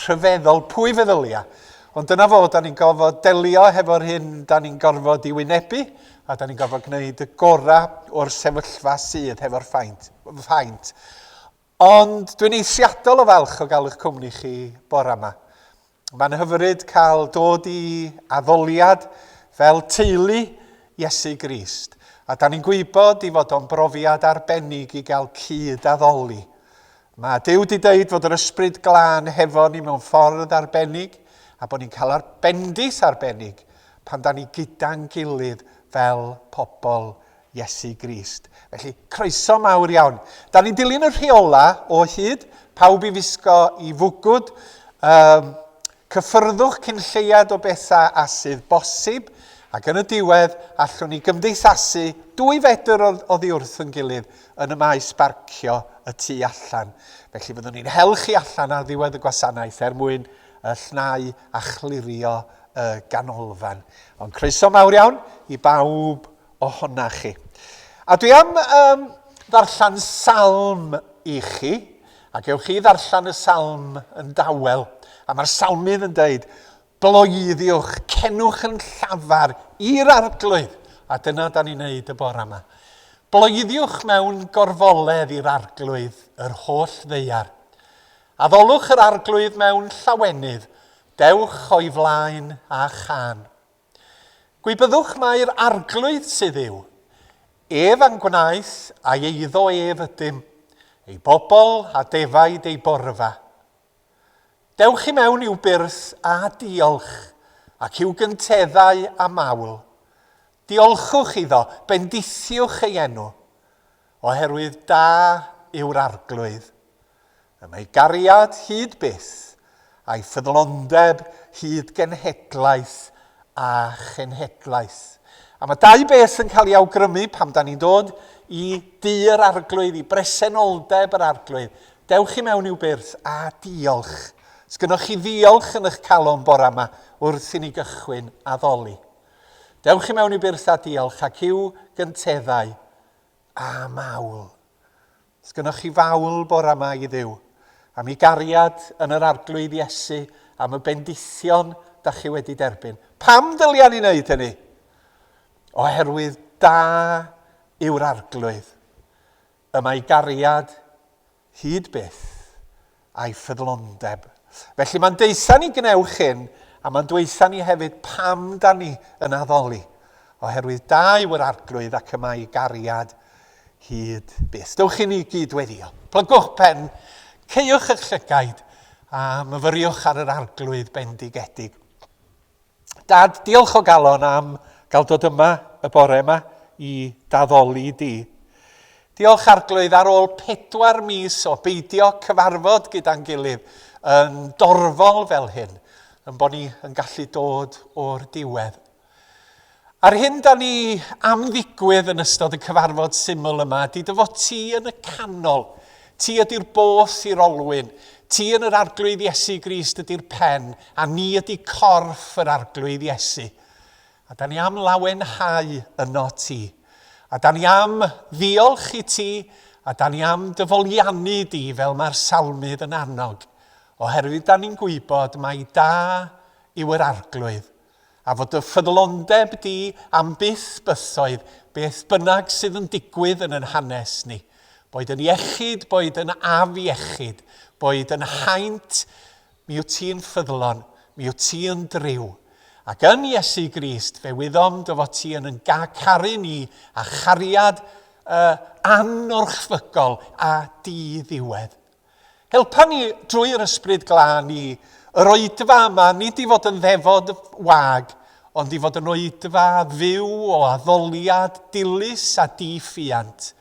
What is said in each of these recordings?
rhyfeddol pwy feddylia, ond dyna fo, da ni'n gorfod delio hefo'r hyn da ni'n gorfod i wynebu a da ni'n gorfod gwneud y gorau o'r sefyllfa sydd hefo'r ffaint. ffaint. Ond dwi'n eithriadol o falch o gael eich cwmni chi bore yma. Mae'n hyfryd cael dod i addoliad fel teulu Iesu Grist, a da ni'n gwybod i fod o'n brofiad arbennig i gael cyd-addoli Mae Duw wedi deud fod yr Ysbryd Glân hefo ni mewn ffordd arbennig a bod ni'n cael ar bendith arbennig pan da ni gyda'n gilydd fel pobl Iesu Grist. Felly, croeso mawr iawn. Da ni'n dilyn y rheola o hyd, pawb i wisgo i fwgwd, um, Cyffyrddwch cyn lleied o bethau a sydd bosib, ac yn y diwedd, allwn ni gymdeithasu dwy fedr oddi wrth yn gilydd yn y maes barcio y tu allan. Felly fyddwn ni'n hel chi allan ar ddiwedd y gwasanaeth er mwyn y llnau a chlirio y ganolfan. Ond croeso mawr iawn i bawb ohona chi. A dwi am um, ddarllen salm i chi. A gewch chi ddarllen y salm yn dawel, a mae'r salmydd yn dweud, gloiiddiwch, cenwch yn llafar i'r arglwydd, a dyna da ni'n neud y bore yma. Bloeddiwch mewn gorfoledd i'r arglwydd, yr holl ddeiar. Addolwch yr arglwydd mewn llawenydd, dewch o'i flaen a chan. Gwybyddwch mai'r Arglwydd sydd yw. Ef a'n gwnaeth, a'i eiddo ef ydym, ei bobl a defaid ei borfa. Dewch i mewn i'w byrth â diolch, ac i'w gynteddau â mawl. Diolchwch iddo, bendithiwch ei enw, oherwydd da yw'r Arglwydd. Y mae gariad hyd byth, a'i ffyddlondeb hyd genhedlaeth a chenhedlaeth. A mae dau beth yn cael ei awgrymu pam da ni'n dod i du yr arglwydd, i bresenoldeb yr arglwydd. Dewch i mewn i'w byrth a diolch. Sgynoch chi ddiolch yn eich calon bora yma wrth i ni gychwyn addoli. Dewch i mewn i'w byrth a diolch ac i'w gynteddau a mawl. Sgynnoch chi fawl bora ma i Dduw, am i gariad yn yr Arglwydd Iesu, am y bendithion da chi wedi derbyn. Pam ddylia ni wneud hynny? Oherwydd da yw'r Arglwydd, y mae gariad hyd byth a'i ffyddlondeb. Felly mae'n deitha ni gwnewch hyn, a mae'n dweitha ni hefyd pam da ni yn addoli, oherwydd da yw yr arglwydd ac y mae gariad hyd byth. Dewch i ni gyd weddio. Plygwch pen, ceiwch eich llygaid, a myfyriwch ar yr arglwydd bendigedig. Dad, diolch o galon am gael dod yma y bore yma i daddoli di. Diolch Arglwydd ar ôl pedwar mis o beidio cyfarfod gyda'n gilydd yn dorfol fel hyn, yn bod ni yn gallu dod o'r diwedd. A'r hyn da ni am ddigwydd yn ystod y cyfarfod syml yma ydy dy fod ti yn y canol. Ti ydy'r boll i'r olwyn. Ti yn yr Arglwydd Iesu Grist ydy'r pen, a ni ydy corff yr Arglwydd Iesu. A da ni am lawenhau yno ti. A da ni am ddiolch i ti, a da ni am dyfoliannu di fel mae'r salmydd yn annog, oherwydd da ni'n gwybod mai da yw yr Arglwydd. A fod dy ffyddlondeb di am byth bythoedd beth bynnag sydd yn digwydd yn yn hanes ni, boed yn iechyd, boed yn afiechyd, boed yn haint, mi wyt ti yn ffyddlon, mi wyt ti yn driw. Ac yn Iesu Grist fe wyddom dy fod ti yn yn caru ni a chariad y anorchfygol a di-ddiwedd. Helpa ni drwy yr ysbryd glân i yr oedfa yma, nid i fod yn ddefod wag, ond i fod yn oedfa fyw o addoliad dilys a di-ffiant,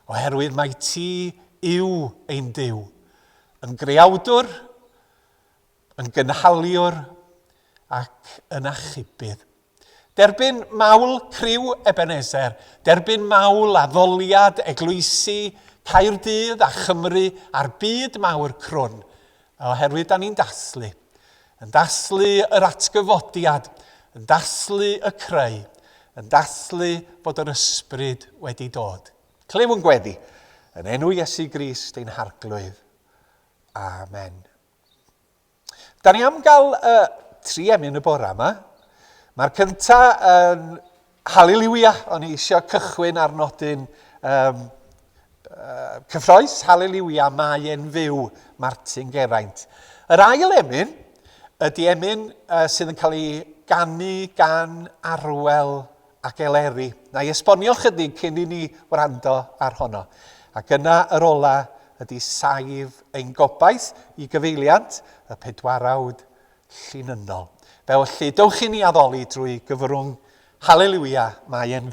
oherwydd mae ti yw ein Duw, yn greawdwr, yn gynhaliwr ac yn achubydd. Derbyn mawl criw Ebenezer, derbyn mawl addoliad eglwysi Caerdydd a Chymru a'r byd mawr crwn, oherwydd da ni'n dathlu. Yn dathlu yr atgyfodiad, yn dathlu y creu, yn dathlu bod yr ysbryd wedi dod. Clyw yn gweddi, yn enw Iesu Grist ein harglwydd. Amen. Da ni am gael uh, tri emyn y bore yma. Mae'r cynta yn uh, Hallelujah, o'n i eisiau cychwyn ar nodyn um, uh, cyffroes, Hallelujah, mae e'n fyw, Martin Geraint. Yr ail emyn ydy emyn uh, sydd yn cael ei ganu gan Arwel ac Eleri. Na'i esbonio chydig cyn i ni wrando ar honno. Ac yna yr ola ydi saif ein gobaith i gyfeiliant y pedwarawd llinynnol. Felly, dewch i ni addoli drwy gyfrwng Hallelujah, mae e'n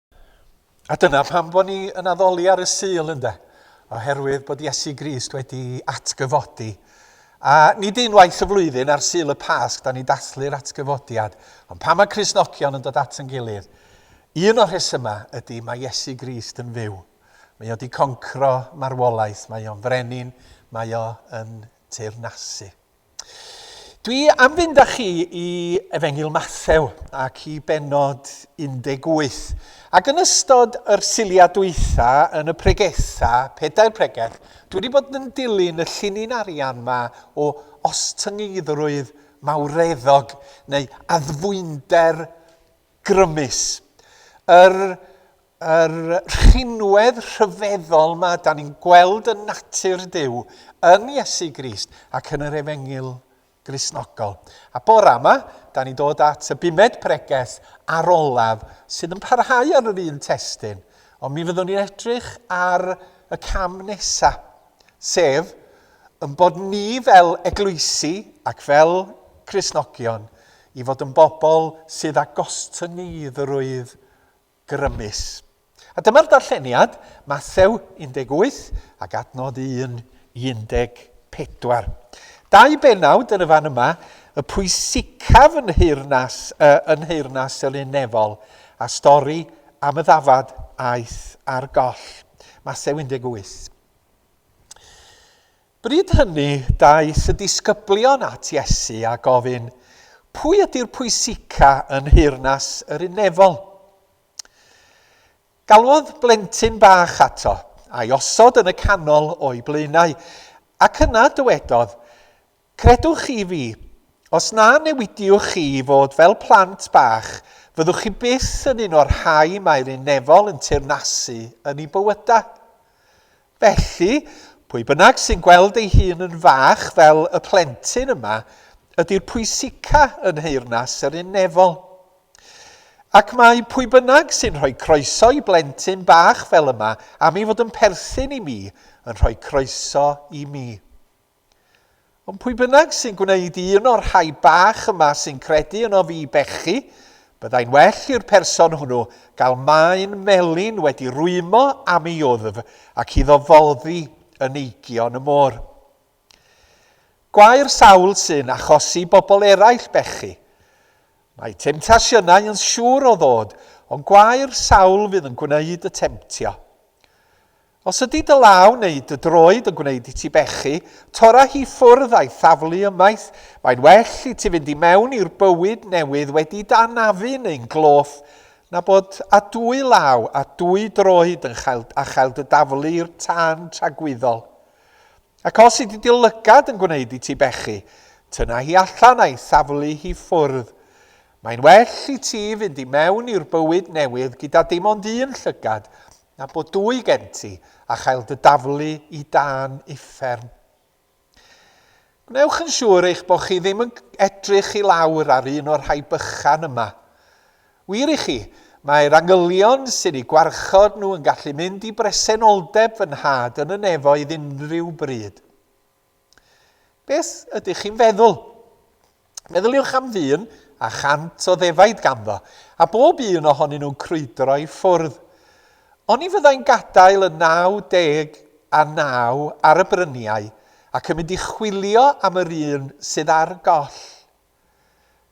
A dyna pam bod ni yn addoli ar y Sul, ynde? Oherwydd bod Iesu Grist wedi atgyfodi. A nid unwaith y flwyddyn ar Sul y Pasg da ni dathlu'r atgyfodiad, ond pan mae Cristnogion yn dod at yn gilydd, un o'r rhesymau ydy mae Iesu Grist yn fyw. Mae o wedi concro marwolaeth, mae o'n frenin, mae o yn teyrnasu. Dwi am fynd â chi i Efengyl Mathew ac i benod 18. Ac yn ystod yr siliau dwytha yn y pregetha, pedair pregeth, dwi wedi bod yn dilyn y llinyn arian ma o ostyngeiddrwydd mawreddog neu addfwynder grymus. Yr Yr rhinwedd rhyfeddol ma da ni'n gweld yn natur Duw, yn Iesu Grist ac yn yr Efengyl Gristnogol. A bora yma, da ni'n dod at y bumed pregeth ar olaf sydd yn parhau ar yr un testyn, ond mi fyddwn ni'n edrych ar y cam nesa, sef yn bod ni fel eglwysi ac fel Cristnogion i fod yn bobl sydd â gostyngyddrwydd grymus. A dyma'r darlleniad, Mathew 18 ac adnod 1 i 14. Dau benawd yn y fan yma, y pwysicaf yn nheyrnas, uh, yn nheyrnas selinefol, a stori am y ddafad aeth ar goll. Mathew 18. Bryd hynny, daeth y disgyblion at Iesu a gofyn, Pwy ydy'r pwysica yn nheyrnas yr unefol? Galwodd blentyn bach ato, a'i osod yn y canol o'i blaenau, ac yna dywedodd, Credwch chi fi, os na newidiwch chi i fod fel plant bach, fyddwch chi byth yn un o'r rhai mae'r unefol yn teyrnasu yn eu bywydau. Felly, pwy bynnag sy'n gweld ei hun yn fach fel y plentyn yma ydy'r pwysica yn nheyrnas yr un nefol. Ac mae pwy bynnag sy'n rhoi croeso i blentyn bach fel yma am ei fod yn perthyn i mi yn rhoi croeso i mi. Ond pwy bynnag sy'n gwneud i un o'r rhai bach yma sy'n credu yno fi bechu, byddai'n well i'r person hwnnw gael maen melyn wedi rwymo am ei wddf ac iddo foddi yn eigion y môr. Gwair sawl sy'n achosi bobl eraill bechu. Mae temtasiynau yn siŵr o ddod, ond gwair sawl fydd yn gwneud y temtio. Os ydy dy law neu dy droed yn gwneud i ti bechu, torra hi ffwrdd a'i thaflu ymaith, mae'n well i ti fynd i mewn i'r bywyd newydd wedi d'anafu neu'n gloff na bod â dwy law a dwy droed yn chael a chael dy daflu i'r tân tragwyddol. Ac os ydy dy lygad yn gwneud i ti bechu, tynna hi allan a'i thaflu hi ffwrdd. Mae'n well i ti fynd i mewn i'r bywyd newydd gyda dim ond un llygad Na bod dwy gen ti, a chael dy daflu i dan uffern. Gwnewch yn siŵr eich bod chi ddim yn edrych i lawr ar un o'r rhai bychan yma. Wir i chi, mae'r angylion sy'n eu gwarchod nhw yn gallu mynd i bresenoldeb fy nhad yn y nefoedd unrhyw bryd. Beth ydych chi'n feddwl? Meddyliwch am ddyn a chant o ddefaid ganddo, a bob un ohonyn nhw'n crwydro i ffwrdd. Oni fyddai'n gadael y 99 ar y bryniau ac yn mynd i chwilio am yr un sydd ar goll?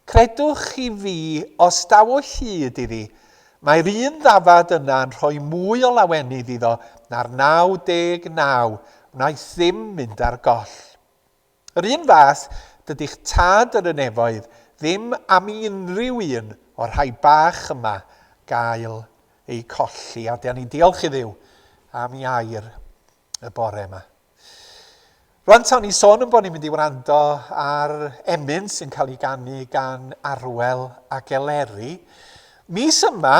Credwch chi fi, os daw o hyd iddi, mae'r un ddafad yna yn rhoi mwy o lawenydd iddo na'r 99 wnaeth ddim mynd ar goll. Yr un fath, dydi'ch tad yn y nefoedd ddim am i unrhyw un o'r rhai bach yma gael eu colli, a 'da ni'n diolch i Dduw am ei air. y bore yma. Rwan tawn ni sôn yn bod ni'n mynd i wrando ar emyn sy'n cael ei gannu gan Arwel a Geleri. Mis yma,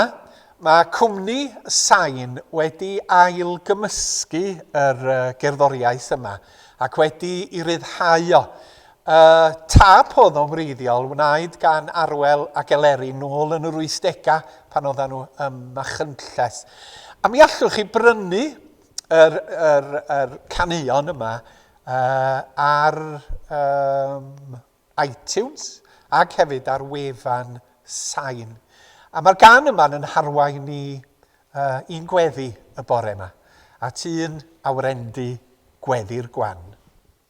mae cwmni Sain wedi ail gymysgu yr gerddoriaeth yma ac wedi i ryddhau o. Y tap oedd o'n wreiddiol wnaed gan Arwel a Geleri nôl yn yr 80au pan oedden nhw ym Machynlleth. A mi allwch chi brynu yr, yr, yr caneuon yma uh, ar um, iTunes ac hefyd ar wefan sain. A mae'r gan yma yn harwain ni uh, i'n gweddi y bore yma, at un awrendi gweddi'r gwan.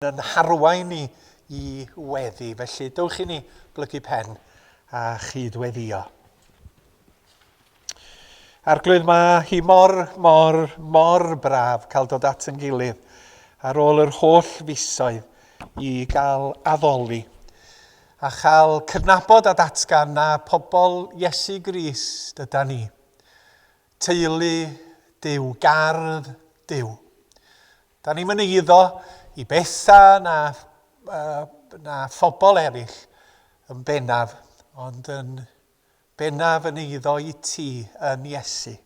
yn yn harwain ni i weddi. Felly, dewch i ni blygu pen a chyd-weddio. Arglwydd, mae hi mor, mor, mor braf cael dod at yn gilydd ar ôl yr holl fisoedd i gael addoli a chael cydnabod a datgan na pobl Iesu Grist yda ni. Teulu Dyw, gardd Dyw. Da ni'm yn eiddo i Besa na, na phobl eraill yn bennaf, ond yn bennaf yn eiddo i ti yn Iesu.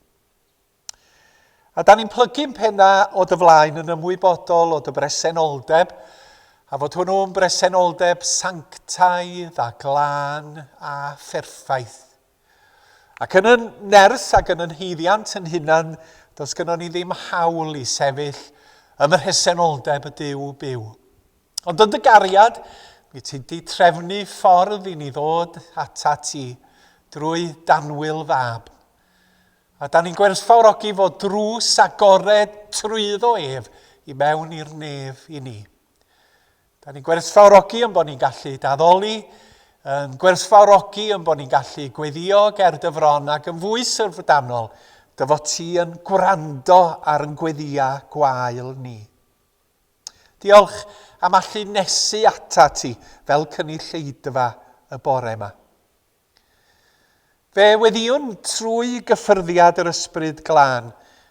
A da ni'n plygu'n penna o dy flaen yn ymwybodol o dy bresenoldeb, a fod hwnnw'n bresenoldeb sanctaidd a glân a pherffaith Ac yn y nerth ac yn yn huddiant yn hunan, does gynnon ni ddim hawl i sefyll ym mhresenoldeb y Duw byw. Ond yn dy gariad, mi ti'n di trefnu ffordd i ni ddod ata ti drwy danwyl fab. A da ni'n gwerthfawrogi fod drws agored trwyddo ef i mewn i'r nef i ni. Da ni'n gwerthfawrogi yn bod ni'n gallu daddoli, yn gwerthfawrogi yn bod ni'n gallu gweddio ger dyfron ac yn fwy sylfdanol, dy fod ti yn gwrando ar yn gweddia gwael ni. Diolch am allu nesu ata ti fel cynulleidfa y bore yma. Fe weddiwn, trwy gyffyrddiad yr Ysbryd Glân,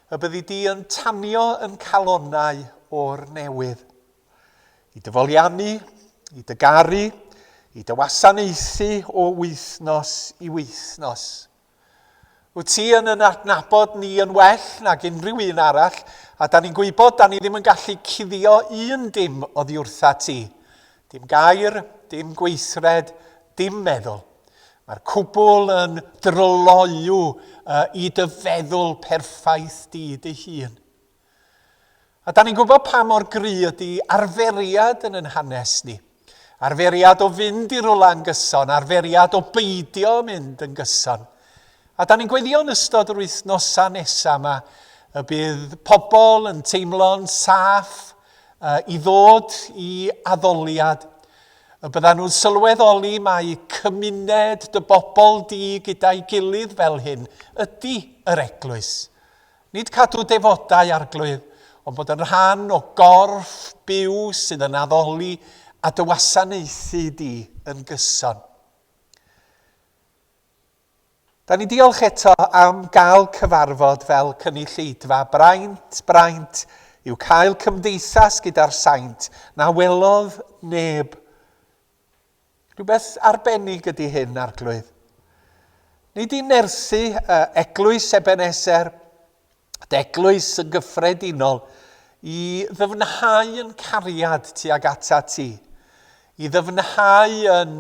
y byddi di yn tanio yn calonnau o'r newydd. I dy foliannu, i dy garu, i dy wasanaethu o wythnos i wythnos. Wyt ti yn yn adnabod ni yn well nag unrhyw un arall, a da ni'n gwybod da ni ddim yn gallu cuddio un dim oddi wrtha ti. Dim gair, dim gweithred, dim meddwl. Mae'r cwbl yn dryloyw i dy feddwl perffaith di dy hun. A da ni'n gwybod pa mor gry ydy arferiad yn yn hanes ni. Arferiad o fynd i rwla yn gyson, arferiad o beidio mynd yn gyson. A da ni'n gweddio yn ystod yr wythnosau nesaf yma y bydd pobl yn teimlo'n saff i ddod i addoliad, y byddan nhw'n sylweddoli mai cymuned dy bobl di gyda'i gilydd fel hyn ydy yr eglwys. Nid cadw defodau arglwydd, ond bod yn rhan o gorff byw sydd yn addoli a dy wasanaethu di yn gyson. Da ni diolch eto am gael cyfarfod fel cynulleidfa. Braint, braint yw cael cymdeithas gyda'r saint. Na welodd neb. Rhywbeth arbennig ydy hyn, Arglwydd. Nid i nerthu uh, eglwys Ebeneser, Yr Eglwys yn gyffredinol, i ddyfnhau yn cariad tuag ata ti, i ddyfnhau yn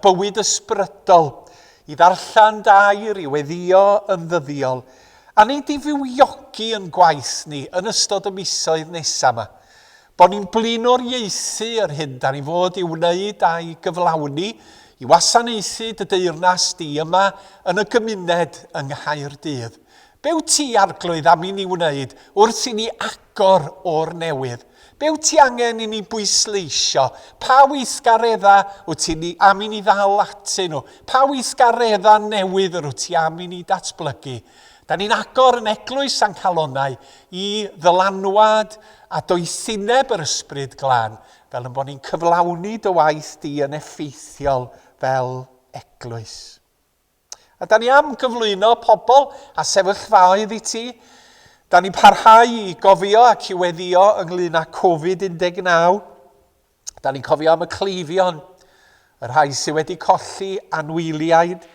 bywyd ysbrydol, i ddarllen dair, i weddio yn ddyddiol, a nid di fywiogi yn gwaith ni yn ystod y misoedd nesaf yma. Bod ni'n blaenoriaethu yr hyn da ni fod i wneud a'i gyflawni, i wasanaethu dy deyrnas di yma yn y gymuned yng Nghaerdydd. Be wyt ti, Arglwydd, am i ni wneud wrth i ni agor o'r newydd? Be wyt ti angen i ni bwysleisio? Pa weithgareddau wyt ti ni am i ni ddal atyn nhw? Pa weithgareddau newydd yr wyt ti am i ni datblygu? Da ni'n agor yn Eglwys San Calonau i ddylanwad a doethineb yr Ysbryd Glân, fel yn bod ni'n cyflawni dy waith di yn effeithiol fel Eglwys. A da ni am gyflwyno pobl a sefyllfaoedd i ti. Da ni'n parhau i gofio ac i weddio ynglyn â Covid-19. Da ni'n cofio am y cleifion, y rhai sydd wedi colli anwyliaid.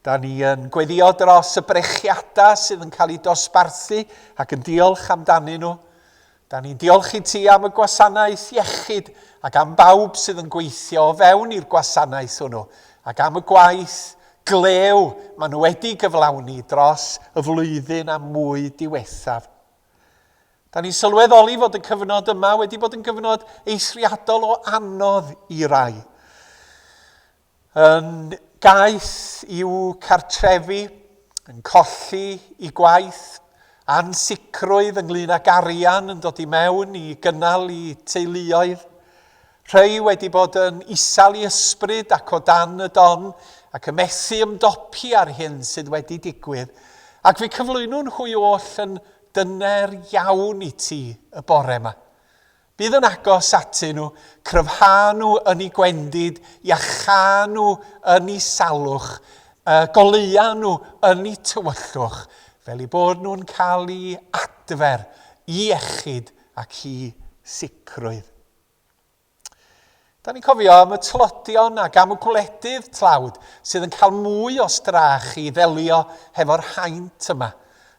Da ni yn gweddio dros y brechiadau sydd yn cael eu dosbarthu ac yn diolch amdanyn nhw. Da ni'n diolch i ti am y gwasanaeth iechyd ac am bawb sydd yn gweithio o fewn i'r gwasanaeth hwnnw ac am y gwaith glew maen nhw wedi gyflawni dros y flwyddyn a mwy diwethaf. Da ni'n sylweddoli fod y cyfnod yma wedi bod yn gyfnod eithriadol o anodd i rai. Yn gaeth i'w cartrefi, yn colli i gwaith, ansicrwydd ynglŷn ag arian yn dod i mewn i gynnal i teuluoedd. Rhei wedi bod yn isal i ysbryd ac o dan y don ac yn methu ymdopi â'r hyn sydd wedi digwydd. Ac fi cyflwyno nhw i oll yn dyner iawn i ti y bore yma. Bydd yn agos atyn nhw, cryfhau nhw yn ei gwendid, iachau nhw yn ei salwch, y goleuau nhw yn ei tywyllwch, fel eu bod nhw'n cael i adfer, i iechyd ac i sicrwydd. Da ni'n cofio am y tlodion ac am y gwledydd tlawd sydd yn cael mwy o strach i ddelio hefo'r haint yma.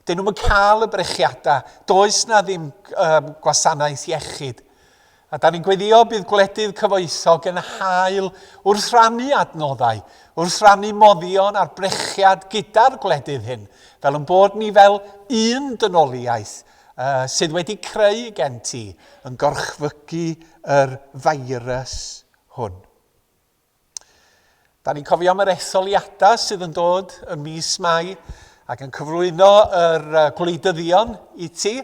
Dyn nhw'n cael y brechiadau, does na ddim um, gwasanaeth iechyd. A da ni'n gweddio bydd gwledydd cyfoethog yn hael wrth rannu adnoddau, wrth rannu moddion a'r brechiad gyda'r gwledydd hyn, fel yn bod ni fel un dynoliaeth sydd wedi creu gen ti yn gorchfygu yr feirws hwn. Da ni'n cofio am yr etholiadau sydd yn dod ym mis Mai ac yn cyflwyno yr gwleidyddion i ti.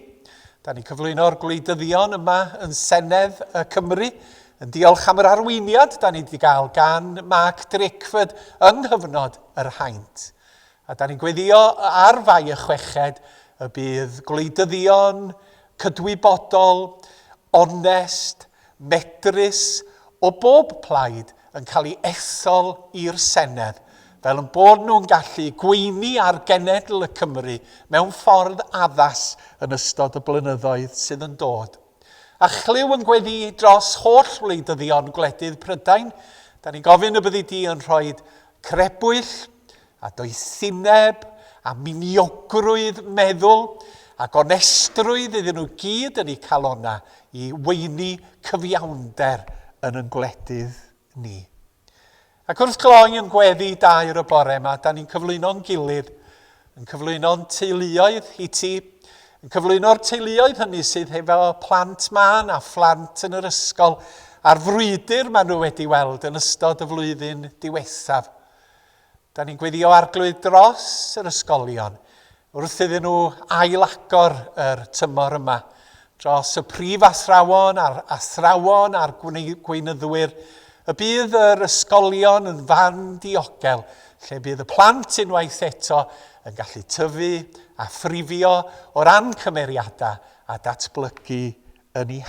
Da ni'n cyflwyno'r gwleidyddion yma yn Senedd y Cymru yn diolch am yr arweiniad da ni wedi gael gan Mark Drakeford yng nghyfnod yr haint. A dan ni'n gweddio ar Fai y Chweched y bydd gwleidyddion cydwybodol, onest, medrus o bob plaid yn cael ei ethol i'r Senedd, fel yn bod nhw'n gallu gweini ar genedl y Cymry mewn ffordd addas yn ystod y blynyddoedd sydd yn dod. A chlyw yn gweddu dros holl wleidyddion gwledydd Prydain, dan ni'n gofyn y byddi di yn rhoi Crebwyll, a doethineb, a miniogrwydd meddwl, a gonestrwydd iddyn nhw gyd yn eu calonna i weini cyfiawnder yn yn gwledydd ni. Ac wrth gloi yn gweddi dair y bore yma, da ni'n cyflwyno'n gilydd Yn cyflwyno'n teuluoedd i ti, yn cyflwyno'r teuluoedd hynny sydd hefo plant mân a phlant yn yr ysgol a'r frwydr maen nhw wedi weld yn ystod y flwyddyn diwethaf. Da ni'n gweddio arglwydd dros yr ysgolion wrth iddyn nhw ailagor yr tymor yma. Dros y prif athrawon a'r athrawon a'r gweinyddwyr y bydd yr ysgolion yn fan diogel lle bydd y plant unwaith eto yn gallu tyfu a thrifio o ran cymeriadau a datblygu yn eu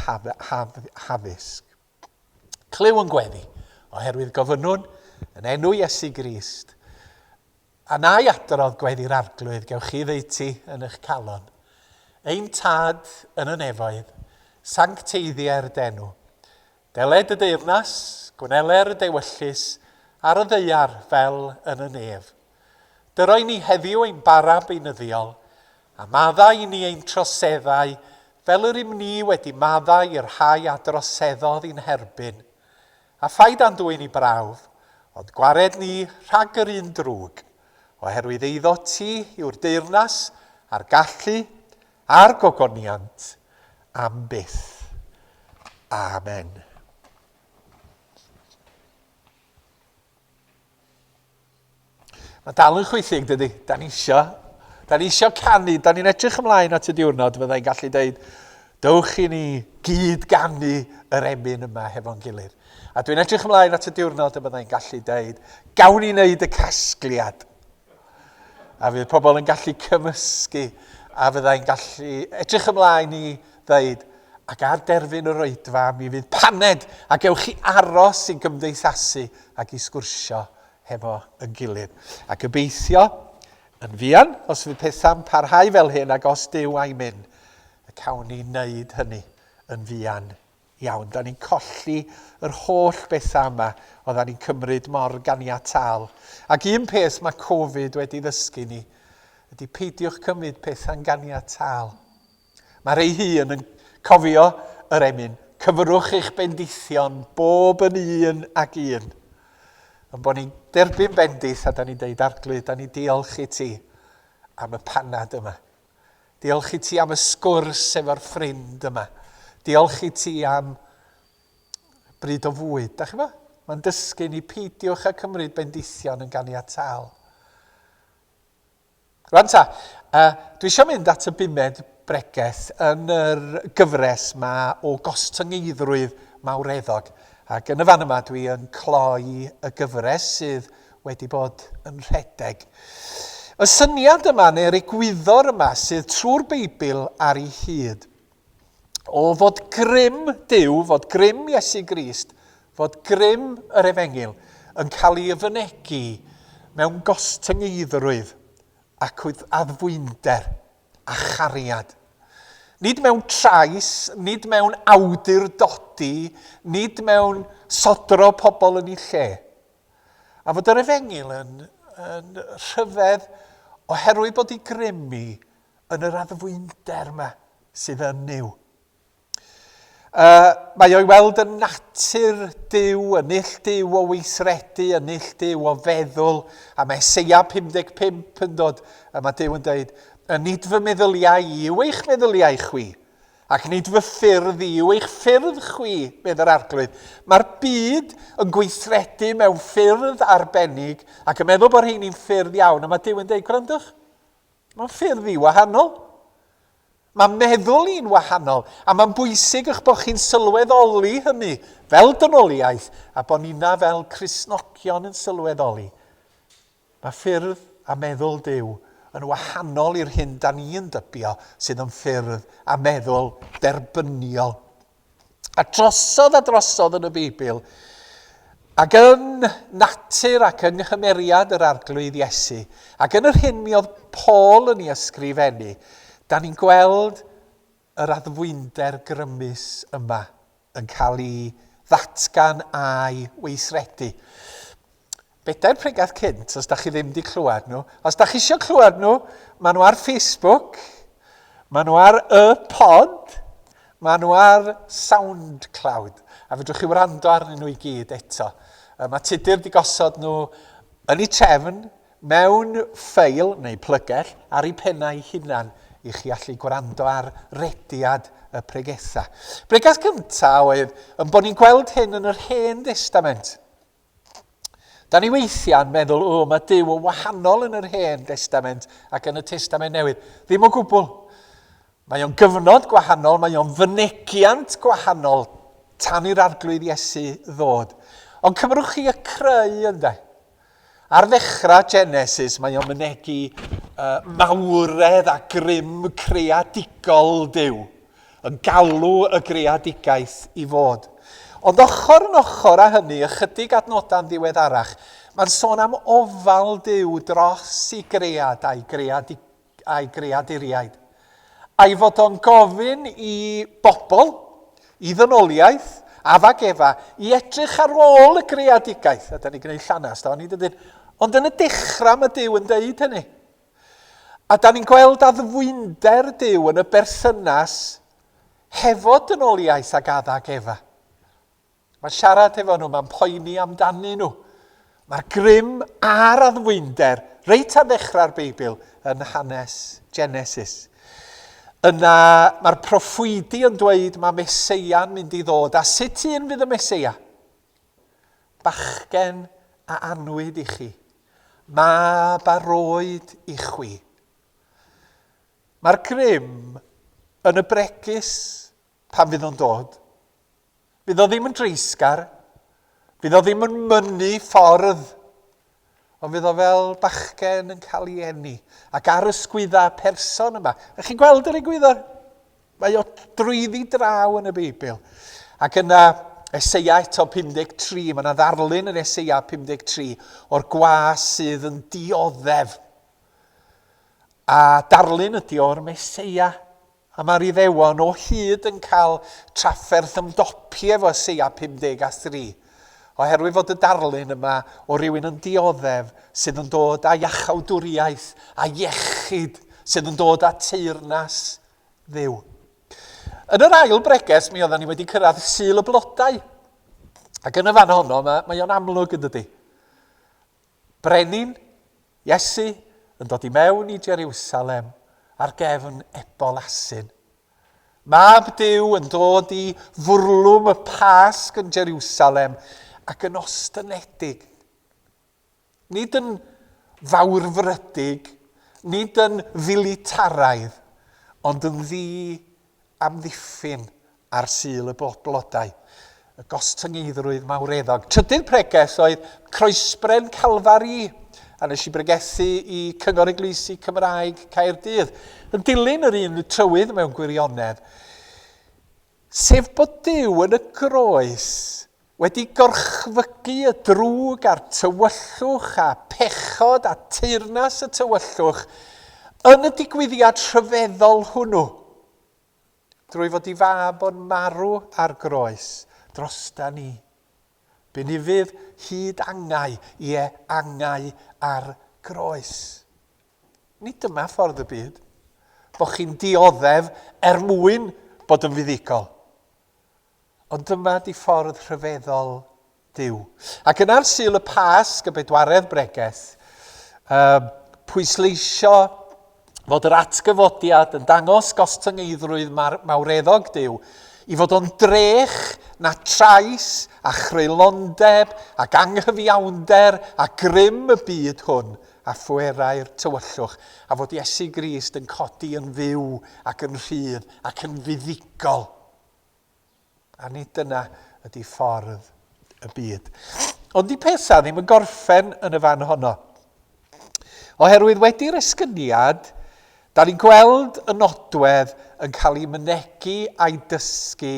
haddysg. Clyw yn gweddi, oherwydd gofynnwn, yn enw Iesu Grist, a na i adrodd gweddi'r Arglwydd gewch chi ddeutu yn eich calon. Ein Tad yn y nefoedd, sancteiddier d'enw. Deled y deyrnas, gwneler y dewyllys ar y ddaear fel yn y nef. Dyroi ni heddiw ein bara beunyddiol, a maddau i ni ein troseddau, fel yr ym ni wedi maddau i'r rhai a droseddodd i'n herbyn. A phaid a'n dwyn i brawf, ond gwared ni rhag yr un drwg, oherwydd eiddo ti yw'r deyrnas, a'r gallu, a'r gogoniant, am byth. Amen. Mae dal yn chwithig, dydy. Da ni isio, da ni isio canu, da ni'n edrych ymlaen at y diwrnod, fyddai'n gallu dweud, dewch i ni gyd ganu yr emyn yma hefo'n gilydd. A dwi'n edrych ymlaen at y diwrnod y byddai'n gallu dweud, gawn ni wneud y casgliad. A fydd pobl yn gallu cymysgu a fyddai'n gallu edrych ymlaen i ddeud ac ar derfyn yr oedfa mi fydd paned a gewch chi aros i gymdeithasu ac i sgwrsio hefo yn gilydd. A gobeithio yn fuan os fydd pethau'n parhau fel hyn ac os Duw a'i myn, y cawn ni wneud hynny yn fuan Iawn, da ni'n colli yr holl bethau yma oedda ni'n cymryd mor ganiataol. Ac un peth mae Covid wedi ddysgu ni ydy peidiwch cymryd pethau'n ganiataol. Mae rhai hun yn cofio yr emyn, cyfrwch eich bendithion bob yn un ag un. Yn bod ni'n derbyn bendith a da ni'n deud arglwydd, da ni'n diolch i ti am y panad yma. Diolch i ti am y sgwrs efo'r ffrind yma. Diolch i ti am bryd o fwyd. Da chi fo? Mae'n dysgu ni peidiwch a cymryd bendithion yn ganiataol. Rwan ta, uh, dwi eisiau mynd at y bumed bregeth yn yr gyfres ma o gostyngeiddrwydd mawreddog. Ac yn y fan yma dwi yn cloi y gyfres sydd wedi bod yn rhedeg. Y syniad yma, neu'r egwyddor yma sydd trwy'r Beibl ar ei hyd, o fod grym Duw, fod grym Iesu Grist, fod grym yr Efengil yn cael ei yfynegu mewn gostyngeiddrwydd ac addfwynder a chariad. Nid mewn trais, nid mewn awdurdodi, nid mewn sodro pobl yn ei lle, a fod yr efengyl yn, yn rhyfedd oherwydd bod ei grym ni yn yr addfwynder yma sydd yn Nuw. Uh, mae o'i weld yn natur Dyw, yn ill Dyw o weithredu, yn ill Dyw o feddwl, a mae Seia 55 yn dod, a mae Dyw yn dweud, y nid fy meddyliau i yw eich meddyliau chwi, Ac nid fy ffyrdd i yw eich ffyrdd chwi, medd yr Arglwydd. Mae'r byd yn gweithredu mewn ffyrdd arbennig ac yn meddwl bod rheini'n ffyrdd iawn, a mae Duw yn dweud, gwrandwch, mae'n ffyrdd i wahanol. Mae meddwl i'n wahanol, a mae'n bwysig eich bod chi'n sylweddoli hynny fel dynoliaeth a bod ni'n fel Crisnogion yn sylweddoli. Mae ffyrdd a meddwl Duw yn wahanol i'r hyn da ni'n dybio sydd yn ffyrdd a meddwl derbyniol. A drosodd a drosodd yn y Beibl, ac yn natur ac yng nghymeriad yr Arglwydd Iesu, ac yn yr hyn mi oedd Paul yn ei ysgrifennu, da ni'n gweld yr addfwynder grymus yma. yn cael ei ddatgan a'i weithredu. Bedair pregeth cynt, os da chi ddim wedi clywed nhw. Os da chi eisiau clywed nhw, maen nhw ar Facebook, maen nhw ar y pod, maen nhw ar SoundCloud, a fedrwch chi wrando arnyn nhw i gyd eto. Mae tudur wedi gosod nhw yn ei trefn, Mewn ffeil neu plygell ar eu pennau hunan i chi allu gwrando ar rediad y pregethau. Bregeth gynta oedd yn bod ni'n gweld hyn yn yr Hen Destament. Da ni weithiau'n meddwl, o, mae Duw yn wahanol yn yr Hen Destament ac yn y Testament Newydd. Ddim o gwbl. Mae o'n gyfnod gwahanol, mae o'n fynegiant gwahanol tan i'r arglwydd Iesu ddod. Ond cymrwch chi y creu ynde? Ar ddechrau Genesis mae o'n mynegi uh, mawredd a grym creadigol Dyw, yn galw y greadigaeth i fod. Ond ochr yn ochr â hynny, ychydig adnodau'n ddiweddarach, mae'n sôn am ofal Dyw dros i gread a'i greadigol a'i greaduriaid, a'i fod o'n gofyn i bobl, i ddynoliaeth, Addag Efa, i edrych ar ôl y greadigaeth, a da ni'n gwneud llanast, da ni'n dydyn. Ond yn y dechrau mae Dyw yn dweud hynny. A da ni'n gweld addfwynder Dyw yn y berthynas hefo dynoliaeth ag Addag Efa. Mae siarad efo nhw, mae'n poeni amdanyn nhw. Mae'r grym a'r addfwynder reit ar ddechrau'r Beibl yn hanes Genesis. Yna mae'r proffwydi yn dweud mae Meseia'n mynd i ddod, a sut un fydd y Meseia? Bachgen a anwyd i chi, mab a roed i chwi. Mae'r grym yn y bregus pan fydd o'n dod. Fydd o ddim yn dreisgar, fydd o ddim yn mynnu ffordd, ond fydd o fel bachgen yn cael ei enni ac ar ysgwydda person yma. Ych chi'n gweld yr egwyddor? Mae o drwyddi draw yn y Beibl. Ac yna, Eseia eto 53, mae yna ddarlun yn Eseia 53 o'r gwas sydd yn dioddef. A darlun ydy o'r Meseia A mae'r Iddewon o hyd yn cael trafferth ymdopi efo Eseia 53, oherwydd fod y darlun yma o rywun yn dioddef sydd yn dod â iachawdwriaeth a iechyd, sydd yn dod â teyrnas Dduw. Yn yr ail bregeth, mi oedden ni wedi cyrraedd Sul y Blodau. Ac yn y fan honno, mae, mae o'n amlwg yn dydy. Brenin, Iesu, yn dod i mewn i Jeriwsalem ar gefn ebol asyn. Mab Duw yn dod i fwrlwm y Pasg yn Jeriwsalem ac yn ostynedig. Nid yn fawrfrydig, nid yn filitaraidd, ond yn ddi amddiffyn ar Sul y Blodau, y gostyngeiddrwydd mawreddog. Trydydd pregeth oedd Croesbren Calfari, a nes i bregethu i Cyngor Eglwysi Cymraeg Caerdydd, yn dilyn yr un trywydd mewn gwirionedd, sef bod Duw yn y groes Wedi gorchfygu y drwg a'r tywyllwch a phechod a teyrnas y tywyllwch yn y digwyddiad rhyfeddol hwnnw, drwy fod i Fab o'n marw ar groes drosta ni, bu'n ufudd hyd angau, ie, angau ar groes. Nid dyma ffordd y byd, bod chi'n dioddef er mwyn bod yn fuddugol. Ond dyma ydi ffordd rhyfeddol Duw. Ac yn ar Sul y Pasg, y bedwaredd bregeth, um, pwysleisio fod yr atgyfodiad yn dangos gostyngeiddrwydd mawreddog Duw, i fod o'n drech na trais a chreulondeb ac anghyfiawnder a grym y byd hwn a phwerau'r tywyllwch, a fod Iesu Grist yn codi yn fyw ac yn rhydd ac yn fuddugol. A nid dyna ydy ffordd y byd. Ond di pesa ddim yn gorffen yn y fan honno. Oherwydd wedi'r esgyniad, da ni'n gweld y nodwedd yn cael ei mynegi a'i dysgu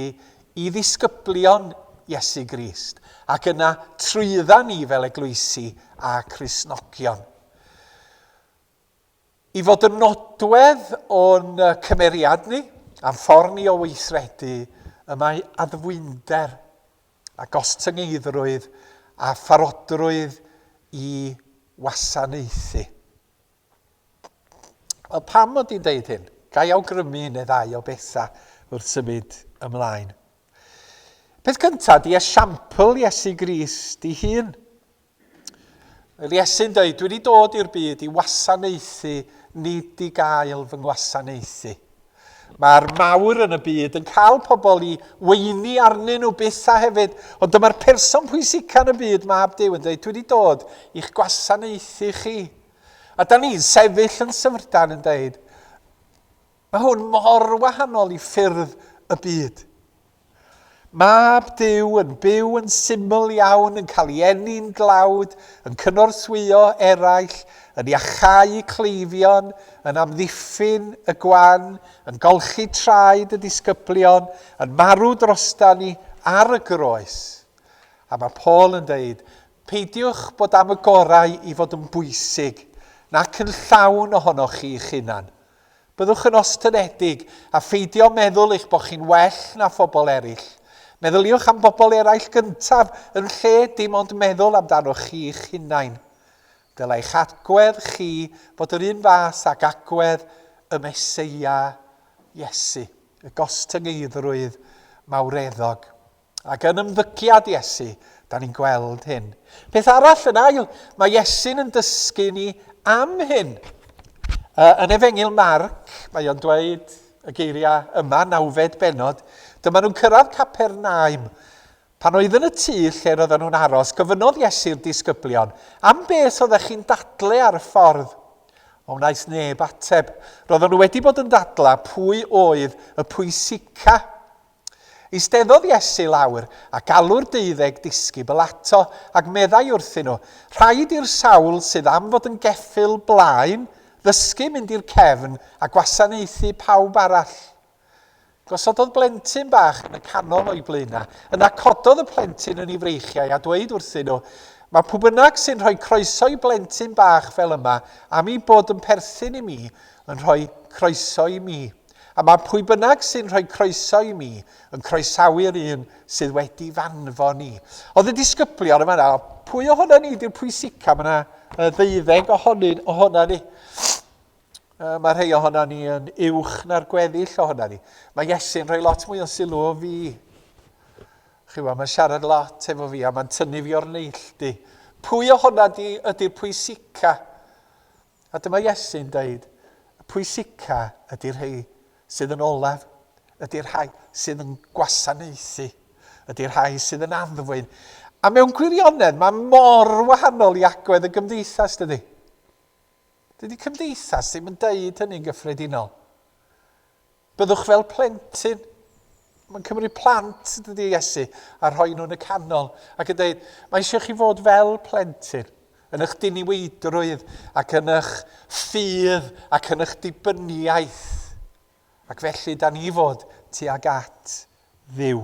i ddisgyblion Iesu Grist, ac yna trwydda ni fel eglwysi a Christnogion. i fod yn nodwedd o'n cymeriad ni a'n ffordd ni o weithredu y mae addfwynder a gostyngeidrwydd a pharodrwydd i wasanaethu. Wel, pam mod i'n deud hyn? Gai awgrymu un neu ddau o bethau wrth symud ymlaen. Peth cyntaf, di esiampl Iesu Grist i hun. Fel Iesu'n dweud, dwi wedi dod i'r byd i wasanaethu, nid i gael fy ngwasanaethu. Mae'r mawr yn y byd yn cael pobl i weini arnyn nhw byth a hefyd, ond dyma'r person pwysica yn y byd, mab Dyw, yn dweud, dwi wedi dod i'ch gwasanaethu chi. A da ni'n sefyll yn syfrdan yn dweud, mae hwn mor wahanol i ffyrdd y byd. Mab Duw yn byw yn syml iawn, yn cael ei eni'n glawd, yn cynorthwyo eraill, yn iachau cleifion, yn amddiffyn y gwan, yn golchi traed y disgyblion, yn marw drostan ni ar y groes. A mae Paul yn dweud, peidiwch bod am y gorau i fod yn bwysig, nac yn llawn ohonoch chi'ch hunan. Byddwch yn ostyngedig, a pheidio meddwl eich bod chi'n well na phobl eraill. Meddyliwch am bobl eraill gyntaf yn lle dim ond meddwl amdanoch chi'ch hunain. Dylai'ch agwedd chi fod yr un fath ag agwedd y Meseia, Iesu, y gostyngeiddrwydd mawreddog. Ac yn ymddygiad Iesu, da ni'n gweld hyn. Peth arall yn ail, mae Iesu'n yn dysgu ni am hyn. Uh, yn efengil Marc, mae o'n dweud y geiriau yma, nawfed benod, dyma nhw'n cyrraedd Capernaum. Pan oedd yn y tŷ lle roedden nhw'n aros, gofynnodd Iesu'r disgyblion, am beth oeddech chi'n dadle ar y ffordd? O wnaeth neb ateb. Roedden nhw wedi bod yn dadla pwy oedd y pwysica Eisteddodd Iesu lawr, a galw'r deuddeg disgybl ato, ac meddai wrthyn nhw, Rhaid i'r sawl sydd am fod yn geffyl blaen ddysgu mynd i'r cefn a gwasanaethu pawb arall. Gosododd blentyn bach yn y canol o'i blaenau. Yna cododd y plentyn yn ei freichiau a dweud wrthyn nhw, Mae pw bynnag sy'n rhoi croeso i blentyn bach fel yma, am ei bod yn perthyn i mi, yn rhoi croeso i mi. A mae pwy bynnag sy'n rhoi croeso i mi yn croesawu'r un sydd wedi fanfon i. Oedd y disgyblion yma na, pwy ohono ni di'r pwysica? Mae yna ddeuddeg ohonyn ohono ni. Mae rhai ohono ni yn uwch na'r gweddill ohono ni. Mae Iesu'n rhoi lot mwy o sylw o fi. Chi weld, mae'n siarad lot efo fi a mae'n tynnu fi o'r neilltu. Pwy ohono di ydy'r pwysica? A dyma Iesu'n dweud, y pwysica ydy'r rhai sydd yn olaf, ydy'r rhai sydd yn gwasanaethu, ydy'r rhai sydd yn addfwyn. A mewn gwirionedd, mae mor wahanol i agwedd y gymdeithas, dydy? Dydy cymdeithas ddim yn deud hynny'n gyffredinol. Byddwch fel plentyn Mae'n cymryd plant, dydy Iesu, a rhoi nhw'n y canol, ac yn dweud, mae eisiau chi fod fel plentyn, yn eich diniweidrwydd, ac yn eich ffydd, ac yn eich dibyniaeth. Ac felly, da ni fod tuag at ddiw.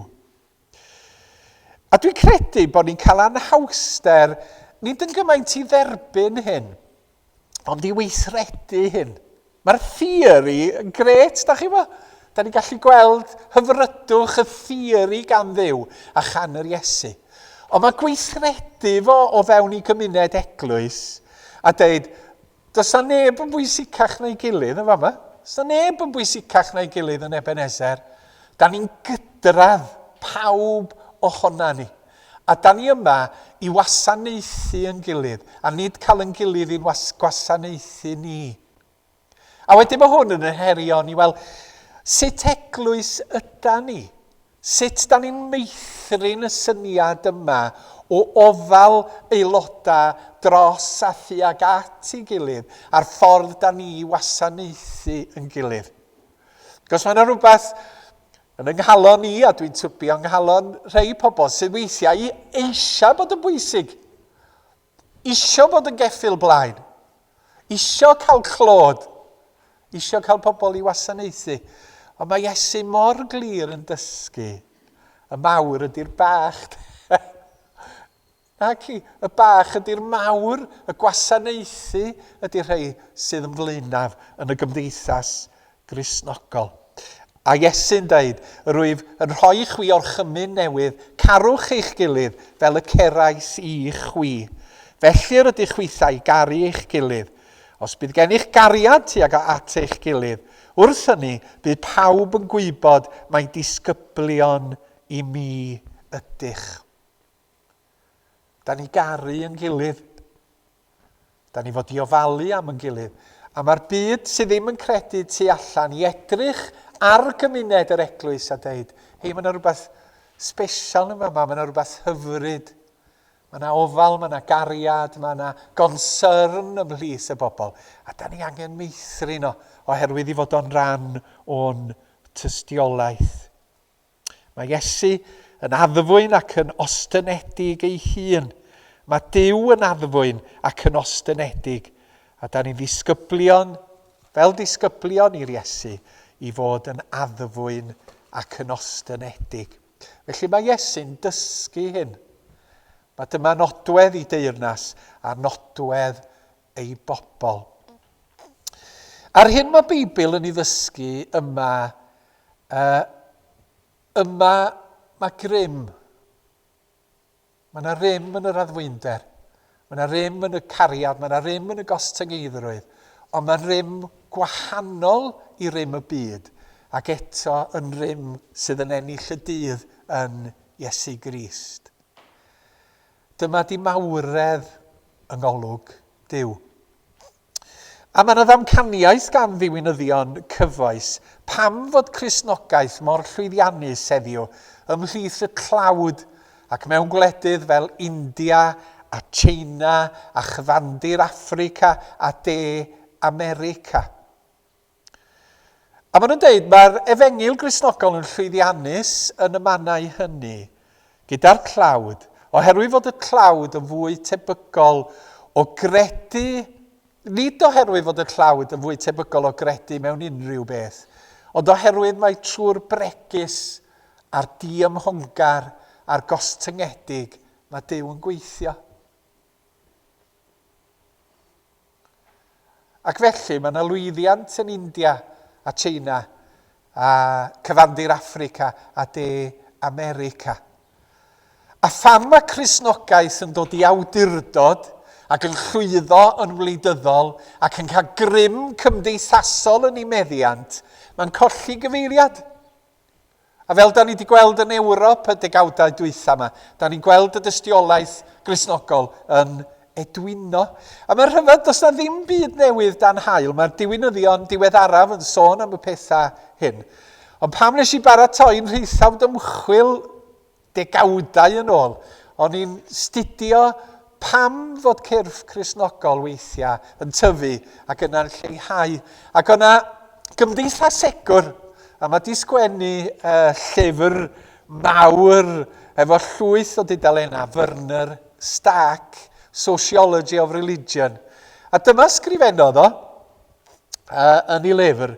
A dwi'n credu bod ni'n cael anhawster, nid yn gymaint i dderbyn hyn, ond i weithredu hyn. Mae'r theori yn gret, da chi fo? Da ni'n gallu gweld hyfrydwch y theori gan ddew a chan yr Iesu. Ond mae gweithredu fo o fewn i gymuned eglwys a dweud, Does 'na neb yn bwysicach na'i gilydd yn fama. Does 'na neb yn bwysicach na'i gilydd yn Ebenezer. Da ni'n gydradd, pawb ohona ni. A da ni yma i wasanaethu yn gilydd, a nid cael yn gilydd i'n gwasanaethu ni. A wedyn mae hwn yn yn herion i weld sut eglwys yda ni. Sut 'da ni'n meithrin y syniad yma o ofal aelodau dros a thuag at ei gilydd a'r ffordd 'da ni i wasanaethu yn gilydd? Cos mae 'na rywbeth yn yng nghalon i, a dwi'n tybio yng nghalon rhei pobl, sydd weithiau eisiau bod yn bwysig, Isio bod yn geffyl blaen. Isio cael clod. Isio cael pobl i wasanaethu. Ond mae Iesu mor glir yn dysgu. Y mawr ydy'r bach. Na ci, y bach ydy'r mawr, y gwasanaethu ydy'r rhai sydd yn flaenaf yn y gymdeithas Gristnogol. A Iesu'n deud, Rwyf yn rhoi i chwi orchymyn newydd, carwch eich gilydd fel y cerais i chwi. Felly yr ydych chwitha i garu eich gilydd. Os bydd gennych gariad tuag a at eich gilydd, wrth hynny bydd pawb yn gwybod mai disgyblion i mi ydych. Da ni garu yn gilydd. Da ni fod i ofalu am yn gilydd, a mae'r byd sydd ddim yn credu tu allan i edrych ar gymuned yr eglwys a deud, hei, mae yna rhywbeth special yn yma, mae yna rhywbeth hyfryd. Mae yna ofal, mae yna gariad, mae yna gonsyrn ymhlith y bobl, a da ni angen meithrin o, oherwydd i fod o'n ran o'n tystiolaeth. Mae Iesu yn addfwyn ac yn ostynedig ei hun. Mae Duw yn addfwyn ac yn ostynedig, a da ni'n ddisgyblion, fel disgyblion i'r Iesu, i fod yn addfwyn ac yn ostynedig. Felly mae Iesu'n dysgu hyn. Mae dyma nodwedd i deyrnas a nodwedd ei bobl. A'r hyn mae Beibl yn ei ddysgu yma, uh, yma mae grym. Mae yna rym yn yr addfwynder. Mae yna rym yn y cariad, mae yna rym yn y gostyngeidrwydd, ond mae'n rym gwahanol i rym y byd, ac eto yn rym sydd yn ennill y dydd yn Iesu Grist. Dyma di mawredd yng ngolwg Duw. A mae yna ddamcaniaeth gan ddiwinyddion cyfoes pam fod Cristnogaeth mor llwyddiannus heddiw ymhlith y tlawd ac mewn gwledydd fel India a Tsieina a chyfandir Affrica a De America. A maen nhw'n dweud, mae'r efengyl Gristnogol yn llwyddiannus yn y mannau hynny, gyda'r tlawd, oherwydd fod y tlawd yn fwy tebygol o gredu, nid oherwydd fod y tlawd yn fwy tebygol o gredu mewn unrhyw beth, ond oherwydd mai trwy'r bregus a'r diymhongar a'r gostyngedig mae Duw yn gweithio. Ac felly, mae yna lwyddiant yn India a Tsieina a cyfandir Affrica a De America. A pham mae Cristnogaeth yn dod i awdurdod ac yn llwyddo yn wleidyddol ac yn cael grym cymdeithasol yn ei meddiant, mae'n colli gyfeiriad. A fel da ni wedi gweld yn Ewrop y degawdau dwytha yma, da ni'n gweld y dystiolaeth grisnogol yn edwino. A mae'r rhyfedd, does na ddim byd newydd dan hael. Mae'r diwinyddion diweddaraf yn sôn am y pethau hyn. Ond pam nes i baratoi'n rheithawd ymchwil Degawdau yn ôl, o'n i'n 'studio pam fod cyrff Cristnogol weithiau yn tyfu ac yna'n lleihau, ac o' 'na gymdeithasegwr, a ma' 'di sgwennu llyfr mawr efo llwyth o dudalennau, Werner Stack, Sociology of Religion, a dyma sgrifennodd o yn ei lyfr,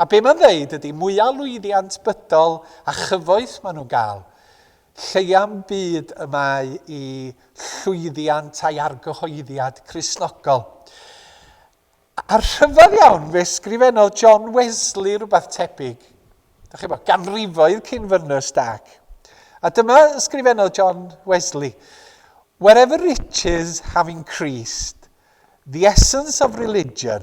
A be mae'n ddeud ydy mwya lwyddiant bydol a chyfoeth maen nhw'n gael, lleuam byd y mae i llwyddiant a'i argyhoeddiad Cristnogol. A rhyfedd iawn, fe sgrifennodd John Wesley rhywbeth tebyg, da chi bo, ganrifoedd cyn fynnu stac. A dyma ysgrifennodd John Wesley, Wherever riches have increased, the essence of religion,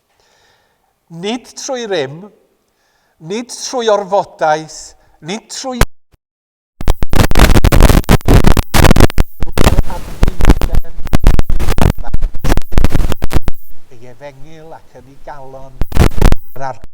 Nid trwy rym, nid trwy orfodaeth, nid trwy ei efengyl ac yn ei galon yr arglwydd.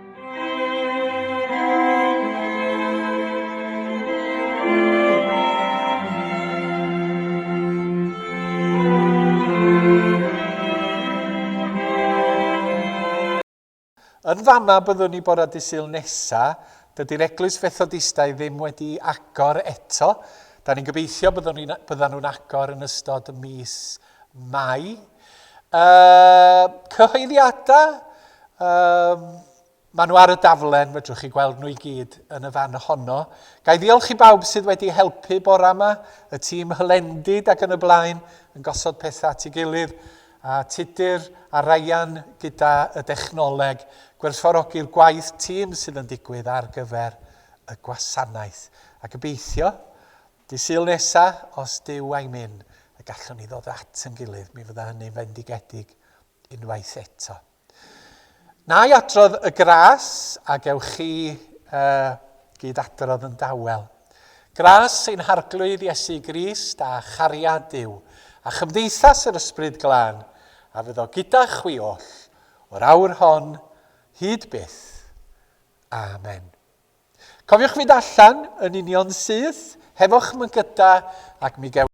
Yn fama byddwn ni bore dy syl nesa, dydy'r eglwys fethodistau ddim wedi agor eto. Da ni'n gobeithio byddwn ni, byddan nhw'n agor yn ystod y mis Mae uh, cyhoeddiadau, um, maen nhw ar y daflen, fedrwch chi gweld nhw i gyd yn y fan honno. Gai ddiolch i bawb sydd wedi helpu bora yma, y tîm hylendid ac yn y blaen, yn gosod pethau at ei gilydd, a Tudur a Ryan gyda y dechnoleg, gwerthfawrogi'r gwaith tîm sydd yn digwydd ar gyfer y gwasanaeth. A gobeithio Dydd Sul nesa, os Duw a'i myn, y gallwn ni ddod at yn gilydd, mi fydda hynny'n fendigedig unwaith eto. Na i adrodd y gras a gewch chi uh, gyd adrodd yn dawel. Gras sy'n harglwydd Iesu Grist a chariad Duw, a chymdeithas yr Ysbryd Glân, a fydd o gyda chwi oll, o'r awr hon, hyd byth. Amen. Cofiwch fynd allan yn union syth, hefo'ch mygyda, ac mi gewch